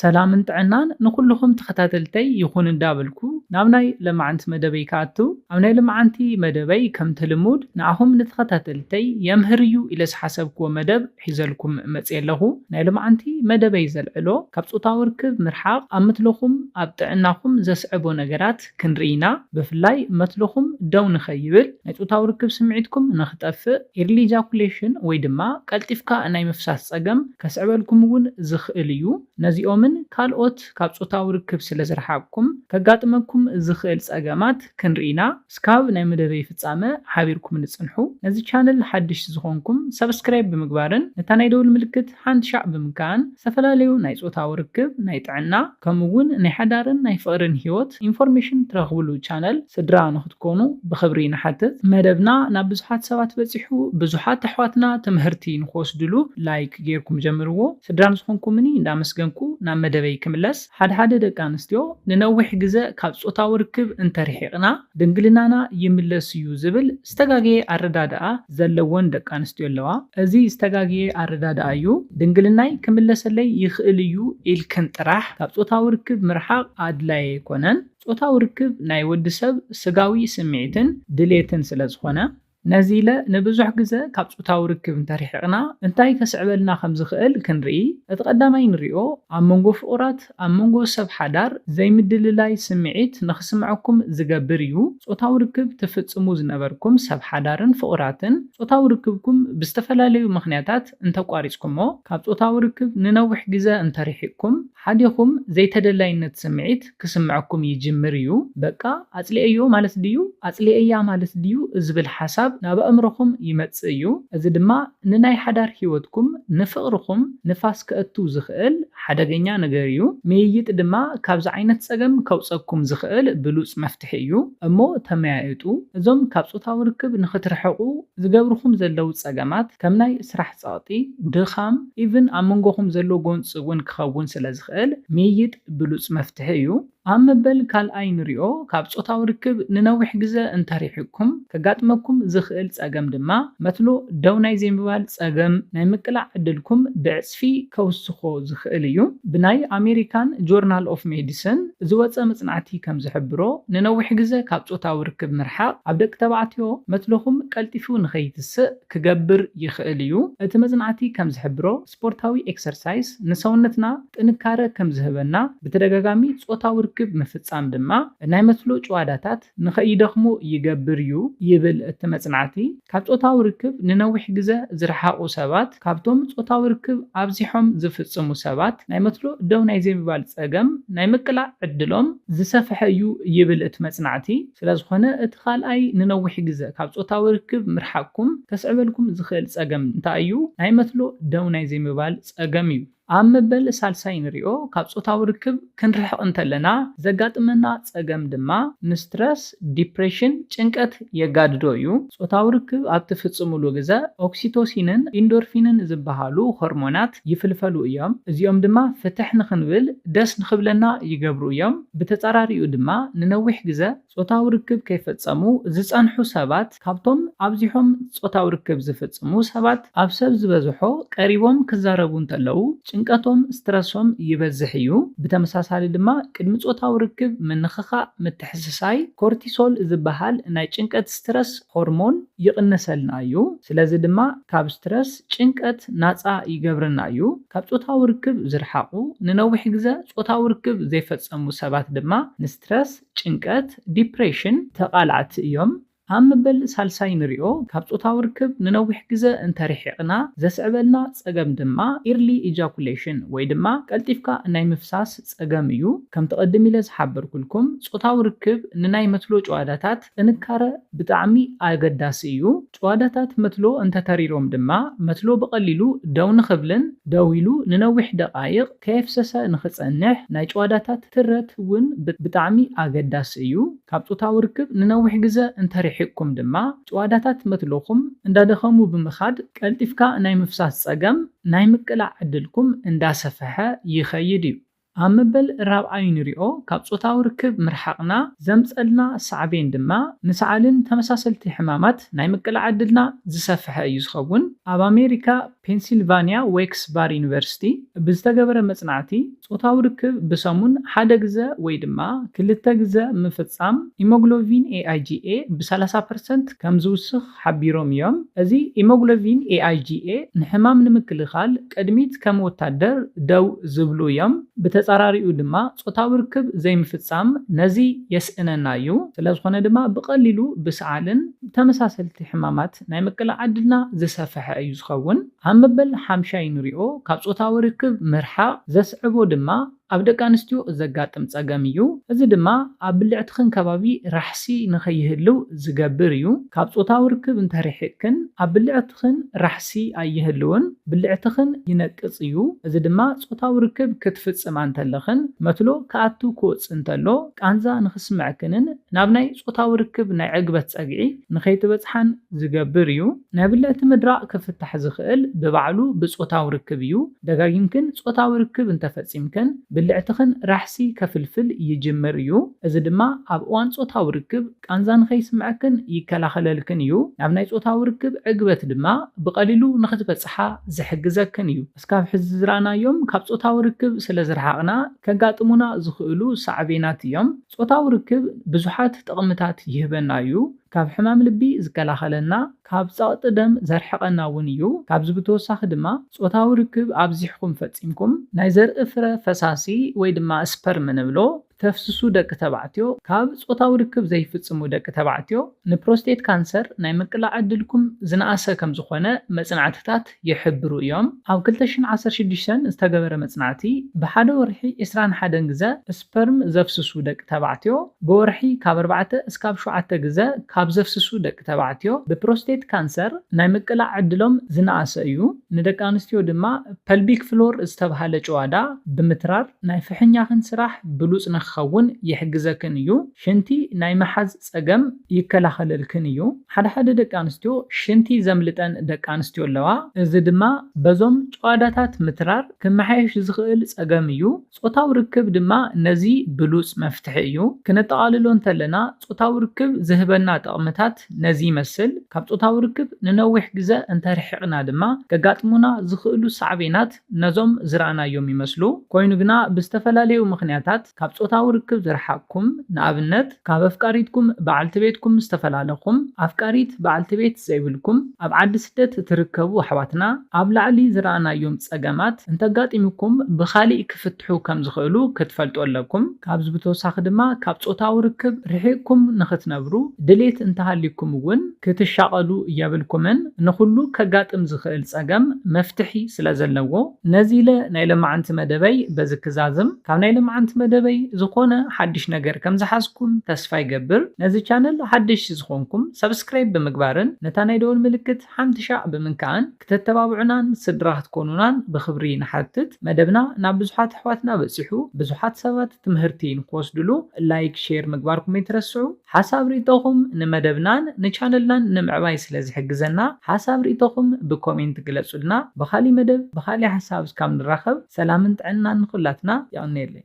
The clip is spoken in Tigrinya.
ሰላምን ጥዕናን ንኹሉኹም ተኸታተልተይ ይኹን እንዳበልኩ ናብ ናይ ለማዓንቲ መደበይ ክኣትው ኣብ ናይ ልማዓንቲ መደበይ ከምቲ ልሙድ ንኣኹም ንተኸታተልተይ የምህር እዩ ኢለ ዝሓሰብክዎ መደብ ሒዘልኩም መጽየ ኣለኹ ናይ ልማዓንቲ መደበይ ዘልዕሎ ካብ ጾታዊ ርክብ ምርሓቕ ኣብ ምትልኹም ኣብ ጥዕናኹም ዘስዕቦ ነገራት ክንርኢ ኢና ብፍላይ መትልኹም ደው ንኸይብል ናይ ጾታዊ ርክብ ስምዒትኩም ንኽጠፍእ ኢርሊ ኢጃኩሌሽን ወይ ድማ ቀልጢፍካ ናይ ምፍሳስ ጸገም ከስዕበልኩም እውን ዝኽእል እዩ ነዚኦምን ካልኦት ካብ ጾታዊ ርክብ ስለ ዝረሓቕኩም ከጋጥመኩም ዝኽእል ጸገማት ክንርኢ ኢና እስካብ ናይ መደበይ ፍጻመ ሓቢርኩምኒ ጽንሑ ነዚ ቻነል ሓድሽ ዝኾንኩም ሳብስክራይብ ብምግባርን ነታ ናይ ደውል ምልክት ሓንሻዕ ብምካን ዝተፈላለዩ ናይ ፆታዊ ርክብ፣ ናይ ጥዕና ከምኡ እውን ናይ ሓዳርን ናይ ፍቅርን ሂወት ኢንፎርሜሽን ትረክብሉ ቻነል ስድራ ንክትኮኑ ብክብሪ ንሓትት። መደብና ናብ ብዙሓት ሰባት በፂሑ ብዙሓት ኣሕዋትና ትምህርቲ ንክወስድሉ ላይክ ገይርኩም ጀምርዎ። ስድራ ንዝኮንኩምኒ እንዳመስገንኩ ናብ መደበይ ክምለስ ሓደ ሓደ ደቂ ኣንስትዮ ንነዊሕ ግዘ ካብ ፆታዊ ርክብ እንተርሒቅና ድንግልናና ይምለስ እዩ ዝብል ዝተጋገየ ኣረዳድኣ ዘለወን ደቂ ኣንስትዮ ኣለዋ። እዚ ዝተጋገየ ኣረዳድኣ እዩ፣ ድንግልናይ ክምለሰለይ ይኽእል እዩ ኢልክን ጥራሕ ካብ ጾታዊ ርክብ ምርሓቕ ኣድላዪ ኣይኮነን። ጾታዊ ርክብ ናይ ወዲ ሰብ ስጋዊ ስምዒትን ድሌትን ስለ ዝኾነ። ነዚ ኢለ ንብዙሕ ግዘ ካብ ጾታዊ ርክብ እንተርሒቕና እንታይ ከስዕበልና ከም ዝኽእል ክንርኢ። እቲ ቀዳማይ ንሪኦ ኣብ መንጎ ፍቑራት ምኽንያት ኣብ መንጎ ሰብ ሓዳር ዘይምድልላይ ስምዒት ንኽስምዐኩም ዝገብር እዩ። ጾታዊ ርክብ ትፍጽሙ ዝነበርኩም ሰብ ሓዳርን ፍቑራትን፣ ጾታዊ ርክብኩም ብዝተፈላለዩ ምኽንያታት እንተ ኣቋሪጽኩሞ፣ ካብ ጾታዊ ርክብ ንነዊሕ ግዘ እንተ ርሒቕኩም፣ ሓዲኹም ዘይተደላይነት ስምዒት ክስምዐኩም ይጅምር እዩ። በቃ ኣጽሊኤዮ ማለት ድዩ? ኣጽሊኤያ ማለት ድዩ? ዝብል ሓሳብ ናብ ኣእምሮኹም ይመጽእ እዩ። እዚ ድማ ንናይ ሓዳር ህይወትኩም ንፍቕርኹም ንፋስ ከእቱ ዝኽእል ሓደገኛ ነገር እዩ። ምይይጥ ድማ ካብዚ ዓይነት ጸገም ከውጸኩም ዝኽእል ብሉጽ መፍትሒ እዩ። እሞ ተመያየጡ። እዞም ካብ ጾታዊ ርክብ ንኽትርሕቑ ዝገብርኹም ዘለዉ ጸገማት ከም ናይ ስራሕ ጸቕጢ፣ ድኻም፣ ኢቭን ኣብ መንጎኹም ዘሎ ጎንጺ እውን ክኸውን ስለ ዝኽእል ምይይጥ ብሉጽ መፍትሒ እዩ። ኣብ መበል ካልኣይ ንሪኦ ካብ ጾታዊ ርክብ ንነዊሕ ግዘ እንተሪሕቅኩም ከጋጥመኩም ዝኽእል ፀገም ድማ መትሎ ደው ናይ ዘይምባል ፀገም ናይ ምቅላዕ ዕድልኩም ብዕፅፊ ከውስኾ ዝኽእል እዩ። ብናይ ኣሜሪካን ጆርናል ኦፍ ሜዲስን ዝወፀ መፅናዕቲ ከምዝሕብሮ ንነዊሕ ግዘ ካብ ጾታዊ ርክብ ምርሓቕ ኣብ ደቂ ተባዕትዮ መትሎኹም ቀልጢፉ ንኸይትስእ ክገብር ይኽእል እዩ። እቲ መፅናዕቲ ከምዝሕብሮ። ስፖርታዊ ኤክሰርሳይስ ንሰውነትና ጥንካረ ከም ዝህበና፣ ብተደጋጋሚ ጾታዊ ርክብ ምፍጻም ድማ ናይ መትሎ ጭዋዳታት ንኸይደኽሙ ይገብር እዩ ይብል እቲ መጽናዕቲ። ካብ ጾታዊ ርክብ ንነዊሕ ግዘ ዝረሓቑ ሰባት ካብቶም ጾታዊ ርክብ ኣብዚሖም ዝፍጽሙ ሰባት ናይ መትሎ ደው ናይ ዘይምባል ጸገም ናይ ምቅላዕ ዕድሎም ዝሰፍሐ እዩ ይብል እቲ መጽናዕቲ። ስለዝኾነ እቲ ካልኣይ ንነዊሕ ግዘ ካብ ፆታዊ ርክብ ምርሓቅኩም ከስዕበልኩም ዝኽእል ፀገም እንታይ እዩ? ናይ መትሎ ደው ናይ ዘይምባል ፀገም እዩ። ኣብ መበል ሳልሳይ ንሪኦ። ካብ ፆታዊ ርክብ ክንርሕቅ እንተለና ዘጋጥመና ፀገም ድማ ንስትረስ፣ ዲፕሬሽን፣ ጭንቀት የጋድዶ እዩ። ፆታዊ ርክብ ኣብ ትፍፅምሉ ግዘ ኦክሲቶሲንን ኢንዶርፊንን ዝበሃሉ ሆርሞናት፣ ሓሳባት ይፍልፈሉ እዮም፣ እዚኦም ድማ ፍትሕ ንኽንብል ደስ ንኽብለና ይገብሩ እዮም። ብተጻራሪኡ ድማ ንነዊሕ ግዘ ጾታዊ ርክብ ከይፈጸሙ ዝጸንሑ ሰባት ካብቶም ኣብዚሖም ጾታዊ ርክብ ዝፍጽሙ ሰባት ኣብ ሰብ ዝበዝሖ ቀሪቦም ክዛረቡ እንተለዉ ጭንቀቶም፣ ስትረሶም፣ ይበዝሕ እዩ። ብተመሳሳሊ ድማ ቅድሚ ጾታዊ ርክብ ምንኽኻእ ምትሕስሳይ ኮርቲሶል ዝበሃል ናይ ጭንቀት፣ ስትረስ፣ ሆርሞን ይቕንሰልና እዩ። ስለዚ ድማ ካብ ስትረስ፣ ጭንቀት ናጻ ይገብረና እዩ። ካብ ጾታዊ ርክብ ዝረሓቑ፣ ንነዊሕ ግዘ ጾታዊ ርክብ ዘይፈጸሙ ሰባት ድማ ንስትረስ፣ ጭንቀት፣ ዲፕሬሽን፣ ተቓላዕቲ እዮም። ኣብ መበል ሳልሳይ ንሪኦ፣ ካብ ጾታዊ ርክብ ንነዊሕ ግዘ እንተርሒቕና ዘስዕበልና ጸገም ድማ ኢርሊ ኢጃኩሌሽን ወይ ድማ ቀልጢፍካ ናይ ምፍሳስ ጸገም እዩ። ከምቲ ቅድም ኢለ ዝሓበርኩልኩም ጾታዊ ርክብ ንናይ መትሎ ጭዋዳታት ጥንካረ ብጣዕሚ ኣገዳሲ እዩ። ጭዋዳታት መትሎ እንተተሪሮም ድማ መትሎ ብቐሊሉ ደው ንኽብልን ደው ኢሉ ንነዊሕ ደቓይቕ ከየፍሰሰ ንኽጸንሕ ናይ ጭዋዳታት ትረት ውን ብጣዕሚ ኣገዳሲ እዩ። ካብ ጾታዊ ርክብ ንነዊሕ ግዘ እንተርሒቕኩም ድማ ጭዋዳታት መትሎኹም እንዳደኸሙ ብምኻድ ቀልጢፍካ ናይ ምፍሳስ ጸገም ናይ ምቅላዕ ዕድልኩም እንዳሰፈሐ ይኸይድ እዩ። ኣብ መበል ራብዓይ ንሪኦ ካብ ጾታዊ ርክብ ምርሓቕና ዘምጸልና ሳዕቤን ድማ ንሰዓልን ተመሳሰልቲ ሕማማት ናይ ምቅላዕ ዕድልና ዝሰፈሐ እዩ ዝኸውን። ኣብ ኣሜሪካ ፔንሲልቫኒያ ዌክስ ባር ዩኒቨርሲቲ ብዝተገበረ መጽናዕቲ ጾታዊ ርክብ ብሰሙን ሓደ ግዘ ወይ ድማ ክልተ ግዘ ምፍጻም ኢሞግሎቪን AIGA ብ ሰላሳ ፐርሰንት ከምዝውስኽ ሓቢሮም እዮም። እዚ ኢሞግሎቪን AIGA ንሕማም ንምክልኻል ቅድሚት ከም ወታደር ደው ዝብሉ እዮም፣ ብተጻራሪኡ ድማ ጾታዊ ርክብ ዘይምፍጻም ነዚ የስእነና እዩ፣ ስለዝኾነ ድማ ብቐሊሉ ብሰዓልን ተመሳሰልቲ ሕማማት ናይ ምቅላዕ ዕድልና ዝሰፈሐ እዩ ዝኸውን፣ ኣብ መበል ሓምሻይ ንሪኦ፣ ካብ ጾታዊ ርክብ ምርሓቕ ዘስዕቦ ድማ ኣብ ደቂ ኣንስትዮ ዘጋጥም ፀገም እዩ። እዚ ድማ ኣብ ብልዕትኽን ከባቢ ራሕሲ ንከይህልው ዝገብር እዩ። ካብ ፆታዊ ርክብ እንተሪሒቅክን ኣብ ብልዕትኽን ራሕሲ ኣይህልውን። ብልዕትኽን ይነቅፅ እዩ። እዚ ድማ ፆታዊ ርክብ ክትፍፅማ እንተለኽን መትሎ ክኣትው ክወፅእ እንተሎ ቃንዛ ንክስመዕክንን ናብ ናይ ፆታዊ ርክብ ናይ ዕግበት ፀግዒ ንከይትበፅሓን ዝገብር እዩ። ናይ ብልዕቲ ምድራቅ ክፍታሕ ዝኽእል ብባዕሉ ብፆታዊ ርክብ እዩ። ደጋጊምክን ጾታዊ ርክብ እንተ ፈጺምክን፣ ብልዕትኽን ራሕሲ ከፍልፍል ይጅምር እዩ፣ እዚ ድማ ኣብ እዋን ጾታዊ ርክብ ቃንዛ ንኸይስምዐክን ይከላኸለልክን እዩ። ናብ ናይ ጾታዊ ርክብ ዕግበት ድማ ብቐሊሉ ንኽትበጽሓ ዝሕግዘክን እዩ። እስካብ ሕዚ ዝረኣናዮም ካብ ጾታዊ ርክብ ስለ ዝረሓቕና ከጋጥሙና ዝኽእሉ ሳዕቤናት እዮም። ጾታዊ ርክብ ብዙሓት ጥቕምታት ይህበና እዩ። ካብ ሕማም ልቢ ዝከላኸለና፣ ካብ ጸቕጢ ደም ዘርሕቐና እውን እዩ። ካብዚ ብተወሳኺ ድማ ጾታዊ ርክብ ኣብዚሕኩም ፈጺምኩም ናይ ዘርኢ ፍረ ፈሳሲ ወይ ድማ ስፐርም እንብሎ እተፍስሱ ደቂ ተባዕትዮ ካብ ጾታዊ ርክብ ዘይፍጽሙ ደቂ ተባዕትዮ ንፕሮስቴት ካንሰር ናይ ምቅላዕ ዕድልኩም ዝነኣሰ ከምዝኾነ መጽናዕትታት ይሕብሩ እዮም። ኣብ ክልተ ሽሕን ዓሰርተ ሽዱሽተን ዝተገበረ መጽናዕቲ፣ ብሓደ ወርሒ ዕስራን ሓደን ግዘ ስፐርም ዘፍስሱ ደቂ ተባዕትዮ፣ ብወርሒ ካብ ኣርባዕተ እስካብ ሸውዓተ ግዘ ካብ ዘፍስሱ ደቂ ተባዕትዮ ብፕሮስቴት ካንሰር ናይ ምቅላዕ ዕድሎም ዝነኣሰ እዩ። ንደቂ ኣንስትዮ ድማ ፐልቢክ ፍሎር ዝተብሃለ ጭዋዳ ብምትራር ናይ ፍሕኛኽን ስራሕ ብሉጽ ንክኸውን ይሕግዘክን እዩ። ሽንቲ ናይ ምሓዝ ጸገም ይከላኸለልክን እዩ። ሓደ ሓደ ደቂ ኣንስትዮ ሽንቲ ዘምልጠን ደቂ ኣንስትዮ ኣለዋ፣ እዚ ድማ በዞም ጭዋዳታት ምትራር ክመሓየሽ ዝኽእል ጸገም እዩ። ጾታዊ ርክብ ድማ ነዚ ብሉጽ መፍትሒ እዩ። ክነጠቓልሎ እንተለና ጾታዊ ርክብ ዝህበና ጠቕምታት ነዚ ይመስል፣ ካብ ጾታዊ ርክብ ንነዊሕ ግዘ እንተርሒቕና ድማ ከጋጥሙና ዝኽእሉ ሳዕቤናት፣ ነዞም ዝረኣናዮም ይመስሉ፣ ኮይኑ ግና ብዝተፈላለዩ ምኽንያታት ካብ ጾታዊ ርክብ ዝረሓቕኩም፣ ንኣብነት ካብ ኣፍቃሪትኩም፣ በዓልቲ ቤትኩም፣ ዝተፈላለኹም፣ ኣፍቃሪት፣ በዓልቲ ቤት፣ ዘይብልኩም፣ ኣብ ዓዲ ስደት ትርከቡ ኣሕዋትና፣ ኣብ ላዕሊ ዝረኣናዮም ጸገማት እንተጋጢሙኩም ብኻሊእ ክፍታሕ። ክፍትሑ ከም ዝኽእሉ ክትፈልጡ ኣለኩም። ካብዚ ብተወሳኺ ድማ ካብ ጾታዊ ርክብ ርሒቕኩም ንኽትነብሩ ድሌት እንተሃልዩኩም እውን ክትሻቐሉ የብልኩምን፣ ንኹሉ ከጋጥም ዝኽእል ጸገም መፍትሒ ስለ ዘለዎ። ነዚ ኢለ ናይ ለማዓንቲ መደበይ በዚ ክዛዝም። ካብ ናይ ለማዓንቲ መደበይ ዝኾነ ሓድሽ ነገር ከም ዝሓዝኩም ተስፋ ይገብር። ነዚ ቻነል ሓደሽቲ ዝኾንኩም ሰብስክራይብ ብምግባርን ነታ ናይ ደወል ምልክት ሓንቲ ሻዕ ብምንካእን፣ ክተተባብዑናን ስድራ ክትኮኑናን ብኽብሪ ንሓትት መደብና ናብ ብዙሓት ኣሕዋትና በጺሑ ብዙሓት ሰባት ትምህርቲ ንክወስድሉ ላይክ ሼር ምግባርኩም ኣይትረስዑ ሓሳብ ሪኢቶኹም ንመደብናን ንቻነልናን ንምዕባይ ስለ ዝሕግዘና ሓሳብ ሪኢቶኹም ብኮሜንት ግለጹልና ብኻሊ መደብ ብኻሊ ሓሳብ እስካብ ንራኸብ ሰላምን ጥዕናን ንኹላትና የቐንየለይ።